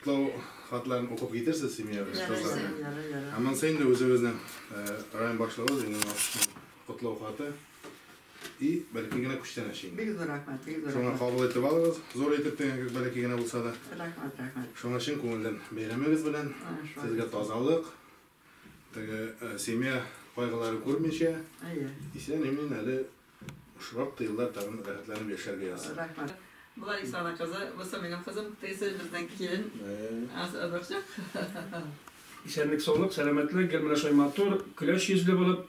Котлау хатларын укып китерсез семья белән, Ярый, кызлар белән. ярый, ярый. Ә монысы инде үзебезнең э, район башлыгыбыз инде Нуршның котлау хаты. И бәлки генә күчтәнәч инде. Бик зур рәхмәт, бик зур Шуңа рәхмәт. кабул итеп алыгыз. Зур итеп дигән кебек бәлки генә булса да. Рәхмәт, рәхмәт. Шуңа чын күңелдән бәйрәмегез белән. Ай, шулай. Сезгә тазалык, Теге семья кайгыларын күрмичә, исән-имин әле шактый еллар тагын рәхәтләнеп яшәргә язсын. Рәхмәт. Бу Ларисаның кызы, бусы минем кызым, тегесе безнең килен. Аз озакчык. Исәнлек-саулык, сәламәтлек, гел менә шулай матур, көләч йөзле булып,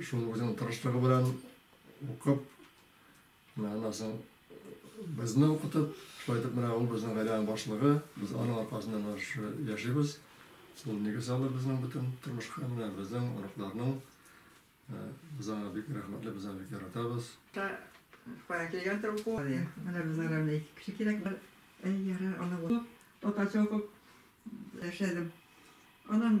Шул үзенең тырышлыгы белән укып, менә аннан соң безне укытып, шулай итеп менә ул безнең гаиләнең башлыгы, без аның аркасында менә шушы яшибез. Ул нигез салды безнең бөтен тормышка, менә безнең, оныкларның. Ә, Без аңа бик рәхмәтле, без аны бик яратабыз. Та кая килгәндер уку. Менә безгә дә менә ике кеше кирәк. Әй, ярар, аны. Татарча укып яшәдем. Аннан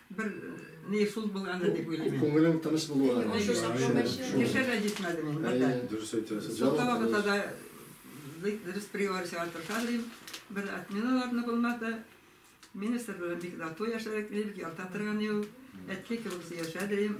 Бер ни шул булгандыр дип уйлыйм мин. Күңелең тыныч булуы гына. Әйе, шул чакта кеше дә җитмәде мин бер дә. Дөрес әйтәсез. Шул вакытта да бик дөрес приговор чыгарып тырышам дим. Бер отменалар да булмады. Министр белән бик тату яшәдек, мин бик ярата торган идем. Әткәй кебек сөйләшә дим.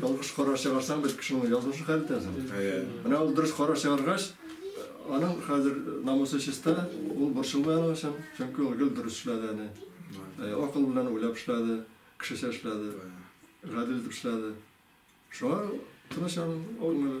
Ялгыш карар чыгарсаң, бер кешенең язмышын хәл итәсең. Менә ул дөрес карар чыгаргач, аның хәзер намусы чиста, ул борчылмый аның өчен, чөнки ул гел дөрес эшләде әни. Акыл белән уйлап эшләде, кешечә эшләде, гадел итеп эшләде. Шуңа тыныч аның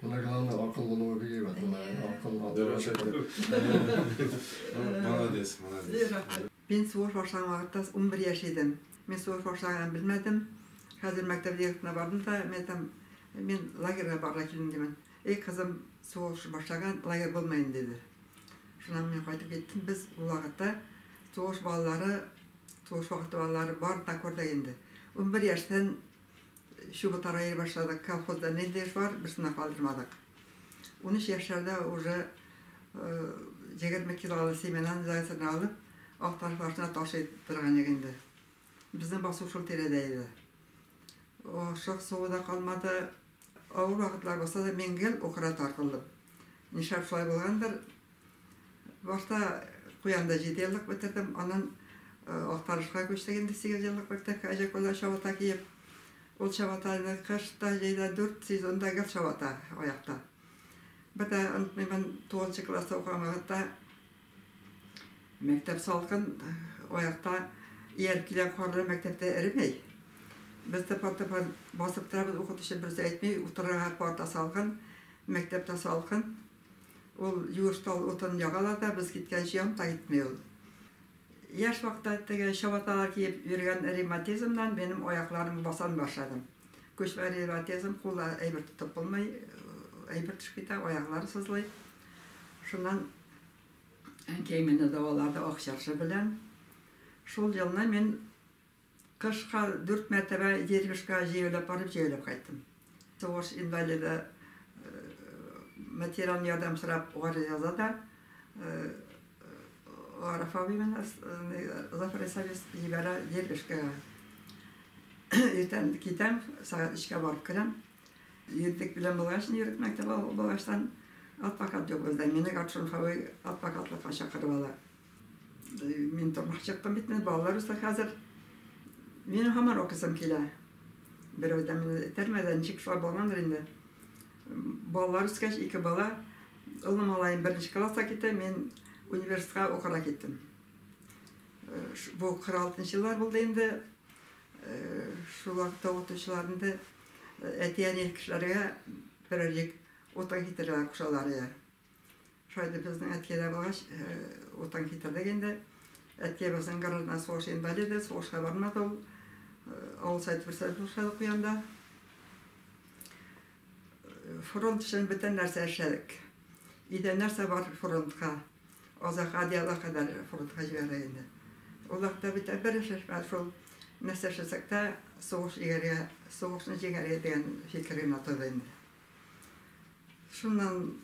Менә главный акыл булуы бик әйбәт. Молодец, молодец. Мин сугыш башлаган вакытта унбер яшь идем. Мин сугыш башлаганын белмәдем. Хәзер мәктәп директорына бардым да, мин әйтәм, мин лагерьга барырга килдем димен. Эй, кызым, сугыш башлаган, лагерь булмый инде, диде. Шуннан мин кайтып киттем. Без ул вакытта сугыш балалары, сугыш вакыты балалары барын да күрдек инде. Унбер яшьтән Чыбытара йөри башладык. Колхозда нинди эш бар, берсен дә калдырмадык. Унөч яшьләрдә уже егерме килолы семенаны зайцерны алып, Акташ башына ташый торган идек инде. Безнең басу шул тирәдә иде. Ашык суы да калмады. Авыр вакытлар булса да, мин гел укырга тартылдым. Нишләп шулай булгандыр, Башта Куянда җиде еллык бетердем, аннан Актанышка күчтек инде сигез еллык мәктәпкә Әҗәкүлдә чабата киеп. Ул чабатаны кыш та, җәй дә дүрт сезон да гел чабата аякта. Бер дә онытмыймын, тугызынчы класста укыган вакытта мәктәп салкын, аякта ияреп килгән карлы мәктәптә эремәй. Без дә партага басып торабыз, укытучы берсе әйтми, утырырга парта салкын, мәктәптә салкын. Ул юеш тал утын ягалар да, без киткәнче янып та китми ул. Яшь вакытта теге чабаталар киеп йөргән ревматизмнан минем аякларым басан башладым. Күчмә ревматизм, кулда әйбер тотып булмый, әйбер төшеп китә, аяклар сызлый. Шуннан әнкәй мине дәвалады Ак чыршы белән. Шул елны мин. Кышка дүрт мәртәбә Егермешкә җәяүләп барып, җәяүләп кайттым. Сугыш инвалиды материаль ярдәм сорап гариза да Гариф абый менә Зафар Исаевич җибәрә Егермешкәгә. Иртән китәм, сәгать өчкә барып керәм. Егетлек белән булгач, егет мәктәбе булгачтан адвокат юк бездә. Мине Гаршун Хәви адвокатлыкка чакырып ала. Мин тамак чыктым бит, менә балалар үсә хәзер. Мин һаман укысым килә. Берәү дә мине этәрмәде, ә ничек шулай булгандыр инде. Балалар үскәч, ике бала, олы малаем беренче класска китте, мин университетка укырга киттем. Бу 46 еллар булды инде. Шул вакытта укытучылар инде әти-әни кешеләргә берәр җик утын китерергә кушалар иде. Шулай итеп безнең әткәй дә булгач, утын китердек инде. Әткәй безнең граждан сугыш инвалиды, сугышка бармады ул. Авыл Совет председателе эшләдек ул янда. Фронт өчен бөтен нәрсә эшләдек. Өйдә нәрсә бар, фронтка. Азак одеялга кадәр фронтка җибәрдек инде. Ул вакытта бит бер эш эш бар шул, нәрсә эшләсәк тә сугыш егәргә, сугышны җиңәргә дигән фикер генә торды инде. Шуннан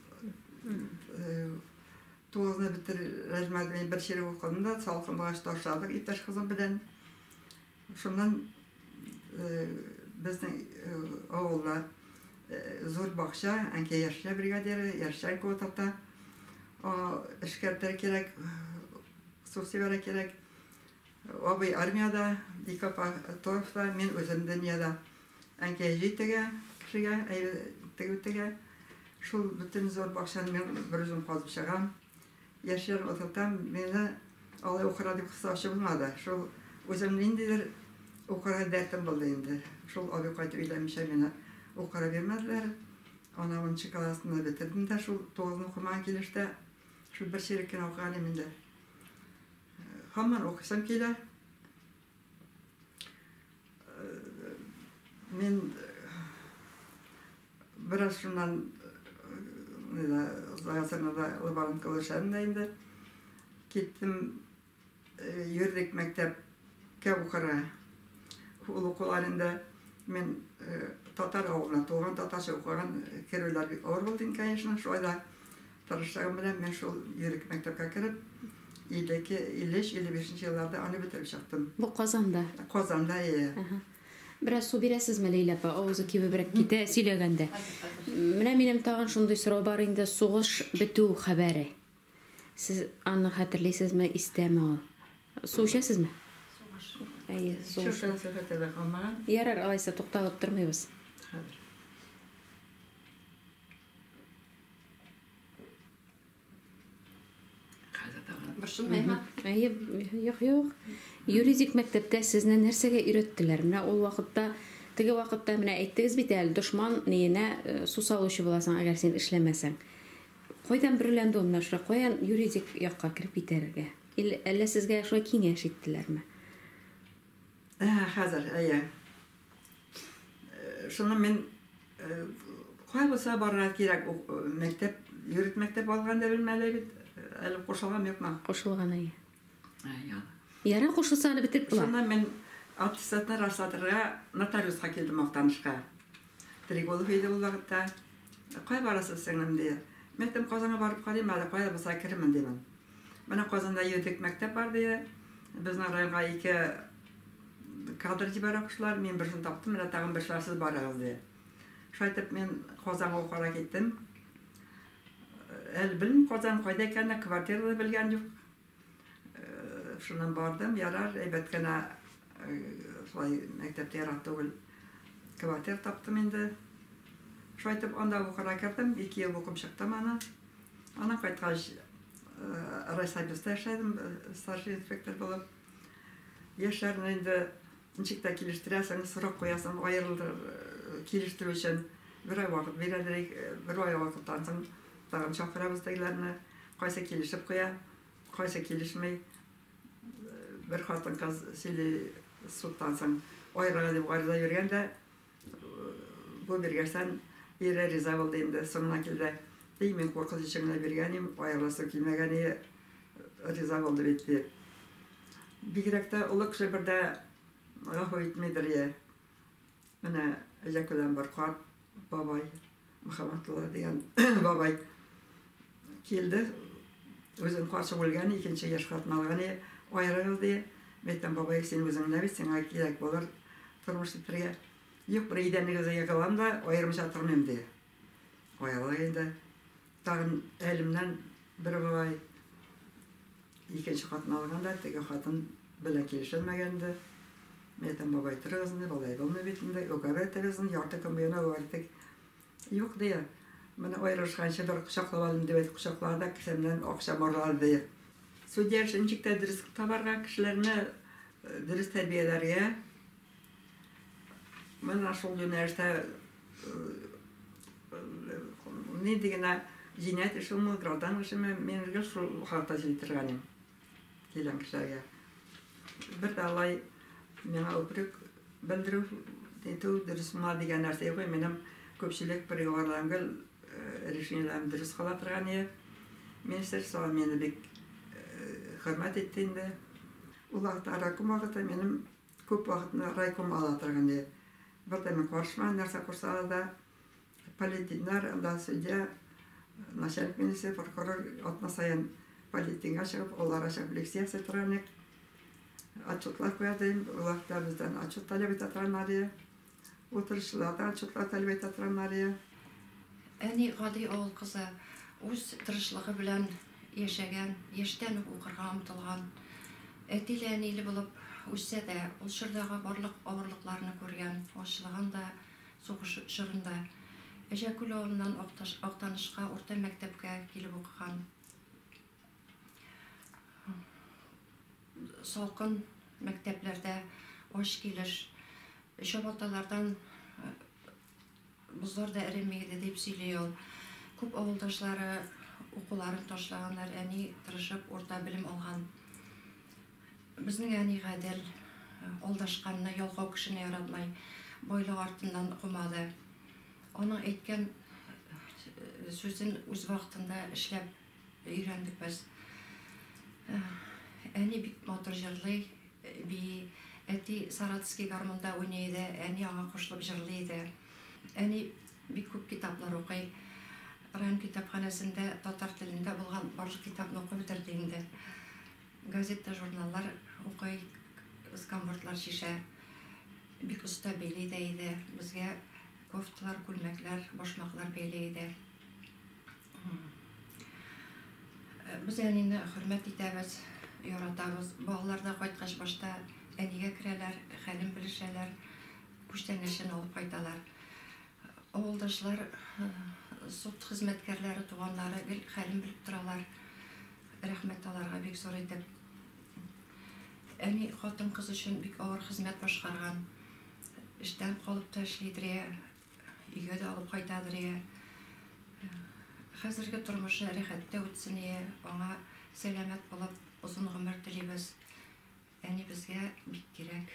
туызны бетер рәҗмәдмәй бер чирек укыдым да, салкынлыгач ташладык иптәш кызым белән. Шуннан безнең авылда зур бакча, әнкәй яшьләр бригадиры, яшьләр квотата. Эшкәртер кирәк, субсидиара кирәк. Абый армиядә, ике апа торфта, мин үзем дөньяда. Әнкәй җөй тегә, кешегә әйбер тегү тегә. Шул бөтен зур бакчаны мин берүзем казып чыгам. Яшьләрне утыртам, мине алай укырга дип кыстаучы булмады. Шул үзем ниндидер укырга дәртем булды инде. Шул абый кайтып өйләнмичә мине укырга бирмәделәр. Ана унынчы классны бетердем дә шул тугызны укымаган килештә шул бер чирек кенә укыган идем инде. Һаман укыйсым килә. Мин бераз шуннан Загасырнада лаборант кылышам да инде. Киттем, йөрдек мәктәпкә укырга. Ул укулар инде мин татар авылына туган, татарча укыган, керүләр бик авыр булды инде, конечно, шулай да Тырышлыгым белән мин шул Юрик мәктәпкә кереп, 52, 53, 55 нче елларда аны бетереп чыктым. Бу Казанда? Казанда, ие. Әһә. Бераз су бирәсезме, Ләйлә апа? Авызы кибебрәк китә сөйләгәндә. Менә минем тагын шундый сорау бар инде, сугыш бетү хәбәре. Сез аны хәтерлисезме, истәме ул? Су эчәсезме? Әйе, су. Чү шансыз хәтерләп калмаган. Ярар, алайса тукталып тормыйбыз. Хәзер. Борчылмыймы? Әйе, юк, юк. Юридик мәктәптә сезне нәрсәгә өйрәттеләр? Менә ул вакытта, теге вакытта менә әйттегез бит әле, дошман ниенә э, су салучы буласың, әгәр син эшләмәсәң. Кайдан берләнде ул менә шулай? Каян юридик якка кереп китәргә? Әллә сезгә шулай киңәш иттеләрме? Ә, хәзер, әйе. Шуны мин кайгыса барырга кирәк, мәктәп, юрит мәктәп алган да белмәле бит, әле кушылган юкмы? Кушылган әйе. Яра кушылса аны бетеп була. Шуны мин аттестатны расладырга нотариуска килдем Актанышка. Триголов иде ул вакытта. Кай барасыз сеңлем ди. Мәктәп Казанга барып карыйм әле, кая булса керермен димен. Менә Казанда юридик мәктәп бар, ди. Безнең районга ике кадр җибәрә куштылар. Мин берсен таптым, менә тагын бер чыгар, сез барыгыз, ди. Шулай итеп, мин Казанга укырга киттем. Әле белмим Казан кайда икәнен, квартира да белгән юк. Шуннан бардым, ярар, әйбәт кенә шулай мәктәп тә ерак түгел, квартира таптым инде. Шулай итеп, анда укырга кердем, ике ел укып чыктым аны. Аннан кайткач, райсобеста эшләдем, старший инспектор булып. Яшьләрне инде ничек тә килештерәсең, срок куясың, аерылдыр, килештерү өчен бер ай вакыт бирәләр, ик, бер ай вакыттан соң тагын чакырабыз тегеләрне, кайсы килешеп куя, кайсы килешми. Бер хатын-кыз сөйли, судтан соң аерырга дип гариза биргән дә. Бу биргәчтән ире риза булды инде, соңына килде. И, мин куркыныч өчен генә биргән идем, аерыласым килмәгән иде, риза булды бит, ди. Бигрәк тә олы кеше бер дә гафу итмидер, ие. Менә Җәкүдән бер карт бабай. Мөхәммәтулла дигән бабай килде. Үзен каршы үлгән, икенче яшь хатын алган, и, аерыгыз, ди. Мәйтәм, бабай, син үзең генә бит, сиңа кирәк булыр тормыш итәргә. Юк, бер идәнегезгә егылам да, аермыйча тормыйм, ди. Аерылыр инде. Тагын әлемнән бер бабай. Икенче хатын алганда, теге хатын белән килешелмәгән инде. Мин әйтәм, бабай, торыгыз инде, болай булмый бит инде, уговоритегез инде, ярты көн буена уговоритик. Юк, ди, менә аерылышканчы бер кочаклап алыйм, дип әйтеп кочаклады да кесәмнән акчам урлады, ди. Судья эшен ничек тә дөрес табарга, кешеләрне дөрес тәрбияләргә, менә шул юнәлештә Нидигенә җинаять эшеме, гражданлык эшеме, мин гел шул хакта сөйли торган идем килгән кешеләргә. Бер дә алай миңа үпрек белдерү итү дөрес була дигән нәрсә юк. Минем күпчелек приговорларым гел решениеләрем дөрес кала торган иде. Министерство мине бик хөрмәт итте инде. Ул вакытта райком вакыты минем Күп вакытны райком ала торган иде. Бердәме карышмаган, нәрсә кушсалар да, полит диннар, анда судья, начальник милиция, прокурор, атна саен полит динга чыгып, ул ара чыгып лекция ясый торган идек. Отчетлар куярды инде, ул вакытта бездән отчет таләп итә торганнар иде. Утырышчылар да отчетлар таләп итә торган Мария. Әни гади авыл кызы, үз тырышлыгы белән яшәгән, яшьтән үк укырга омтылган. Әтиле-әниле булып үссә дә, ул чордагы барлык авырлыкларны күргән, ачлыгын да, сугыш чорында. Әҗәкүл авылыннан Актанышка урта мәктәпкә килеп укыган. Салкын мәктәпләрдә ач килеш чабаталардан бозлар да эреми иде, дип сөйли ул. Күп авылдашлары укуларын ташлаганнар, әни тырышып урта белем алган. Безнең әни гадел, алдашканны, ялкау кешене яратмый, байлык артыннан кумады. Аның әйткән сүзен үз вакытында эшләп Өйрәндек без. Әни бик матур җырлый, бии. Әти Саратовский гармунда уйный иде, әни аңа кушылып җырлый иде. Әни бик күп китаплар укый. Район китапханәсендә татар телендә булган барлык китапны укып бетерде инде. Газета, журналлар укый, сканвордлар чишә. Бик оста били дә иде. Безгә кофталар, күлмәкләр, башмаклар бәйли иде. Без әнине хөрмәт итәбез, яратабыз. Балалар да кайткач башта әнигә керәләр, хәлен белешәләр, күчтәнәчен алып кайталар. Авылдашлар, суд хезмәткәрләре, туганнары гел хәлен белеп торалар. Рәхмәт аларга бик зур итеп. Әни хатын-кыз өчен бик авыр хезмәт башкарган. Эштән калып та эшли Дрия. Өйгә дә алып кайтадыр ия. Хәзерге тормышы рәхәттә үтсен ия. Аңа сәламәт булып озын гомер телибез. Әнибезгә бик кирәк.